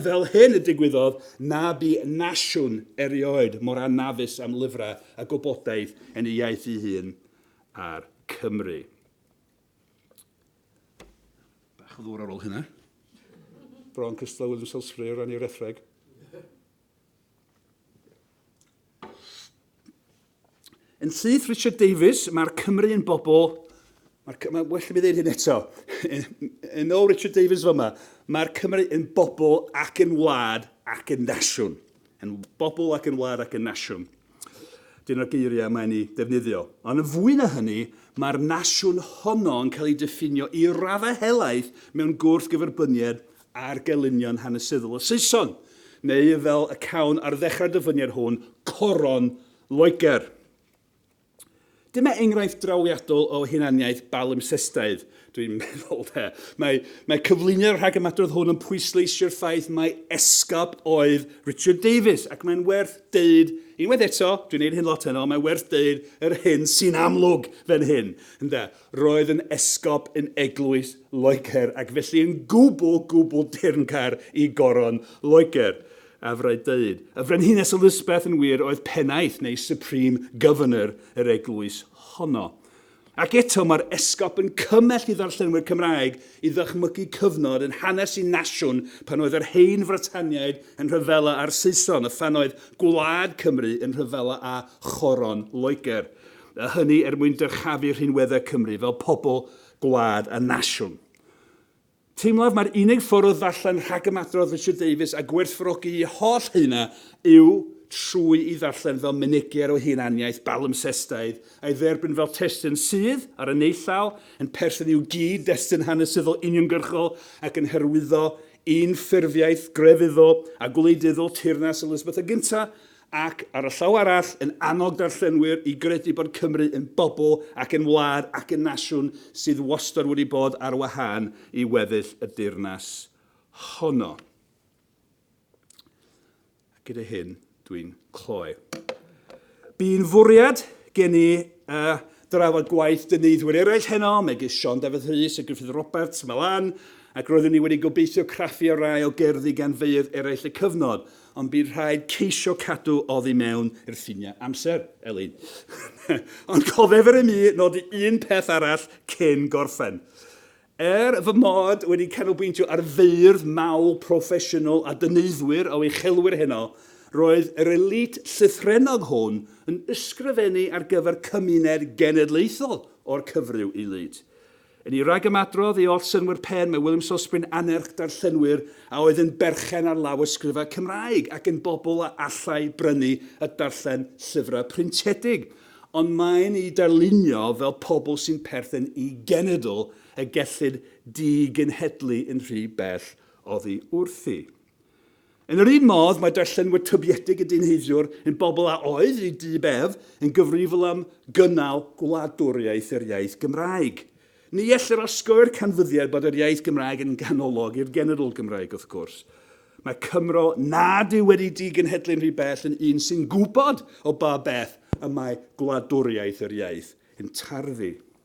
fel hyn y digwyddodd na bu nasiwn erioed mor anafus am lyfrau a gwybodaeth yn ei iaith ei hun a'r Cymry. Bach o ddŵr ar ôl hynna. Bron cystal â William Salisbury o ran ei wretheg. Yn syth Richard Davies, mae'r Cymru yn bobl... Mae'r Cymru... Mae'n well i mi ddeud hyn eto. yn ôl Richard Davies fyma, mae'r Cymru yn bobl ac yn wlad ac yn nasiwn. Yn bobl ac yn wlad ac yn nasiwn. Dyna'r geiriau mae'n ei defnyddio. Ond yn fwy na hynny, mae'r nasiwn honno yn cael ei diffinio i raddau helaeth mewn gwrthgyferbyniad ar gelynion hanesyddol y Saeson, neu fel y cawn ar ddechrau'r dyfyniad hwn, coron Loegr. Dyma enghraifft drawiadol o hunaniaeth balimpsestaidd, dwi'n meddwl, de. Mae, mae cyflwyniad rhag ymadrodd hwn yn pwysleisio'r ffaith mai esgob oedd Richard Davies, ac mae'n werth deud, unwaith eto, dwi'n neud hyn lot heno, mae'n werth deud yr hyn sy'n amlwg fan hyn, ynde. Roedd yn esgob yn eglwys Loegr ac felly yn gwbl, gwbl deyrnggar i Goron Loegr. A fyddai dweud, y Frenhines Elizabeth yn wir oedd pennaeth neu supreme governor yr eglwys honno. Ac eto mae'r esgob yn cymell i ddarllenwyr Cymraeg i ddychmygu cyfnod yn hanes y nasiwn pan oedd yr Hen Frytaniaid yn rhyfela â'r Saeson a phan oedd gwlad Cymru yn rhyfela â Choron Loegr. a hynny er mwyn dyrchafu rhinweddau Cymru fel pobl, gwlad a nasiwn. Teimlaf mai'r unig ffordd o ddarllen rhagymadrodd Richard Davies a gwerthfawrogi ei holl haenau yw trwy'i ddarllen fel mynegiad o hunaniaeth balimpsestaidd, a'i dderbyn fel testun sydd, ar y naill law, yn perthyn i'w gyd-destun hanesyddol uniongyrchol ac yn hyrwyddo unffurfiaeth grefyddol a gwleidyddol Teyrnas Elisabeth y Gyntaf, ac ar y llaw arall yn annog darllenwyr i gredu bod Cymru yn bobl ac yn wlad ac yn nasiwn sydd wastad wedi bod ar wahân i weddill y deyrnas honno. A gyda hyn, dwi'n cloi. Bu'n fwriad gen i uh, drafod gwaith dyneiddwyr eraill heno, megis Sean Dafydd Rhys a Griffith Roberts, Malan, ac roeddwn i wedi gobeithio craffu ar rai o gerddi gan feirdd eraill y cyfnod, Ond bydd rhaid ceisio cadw oddi mewn i'r ffiniau amser, Elin. Ond cofef yr imi nodi un peth arall cyn gorffen. Er fy mod wedi canolbwyntio ar feirdd mawl proffesiynol a dyneiddwyr o uchelwyr heno, roedd yr elît llythrennog hwn yn ysgrifennu ar gyfer cymuned genedlaethol o'r cyfryw i lyd. Yn ei ragymadrodd i oll synnwyr pen, mae William Sosbwyn annerch darllenwyr a oedd yn berchen ar lawysgrifau Cymraeg ac yn bobl a allai brynu a darllen llyfrau pryntedig, ond mae'n eu darlunio fel pobl sy'n perthyn i genedl y gellid digenhedlu yn rhy bell oddi wrthi. Yn yr un modd, mae darllenwyr tybiedig y dynheiddiwr yn bobl a oedd, i du bedd, yn gyfrifol am gynnal gwladwriaeth yr iaith Gymraeg. Ni ellir osgoi'r canfyddiad bod yr iaith Gymraeg yn ganolog i'r genedl Gymraeg, wrth gwrs. Mae Cymro nad yw wedi digenhedlu'n rhy bell yn un sy'n gwybod o ba beth y mae gwladwriaeth yr iaith yn tarddu.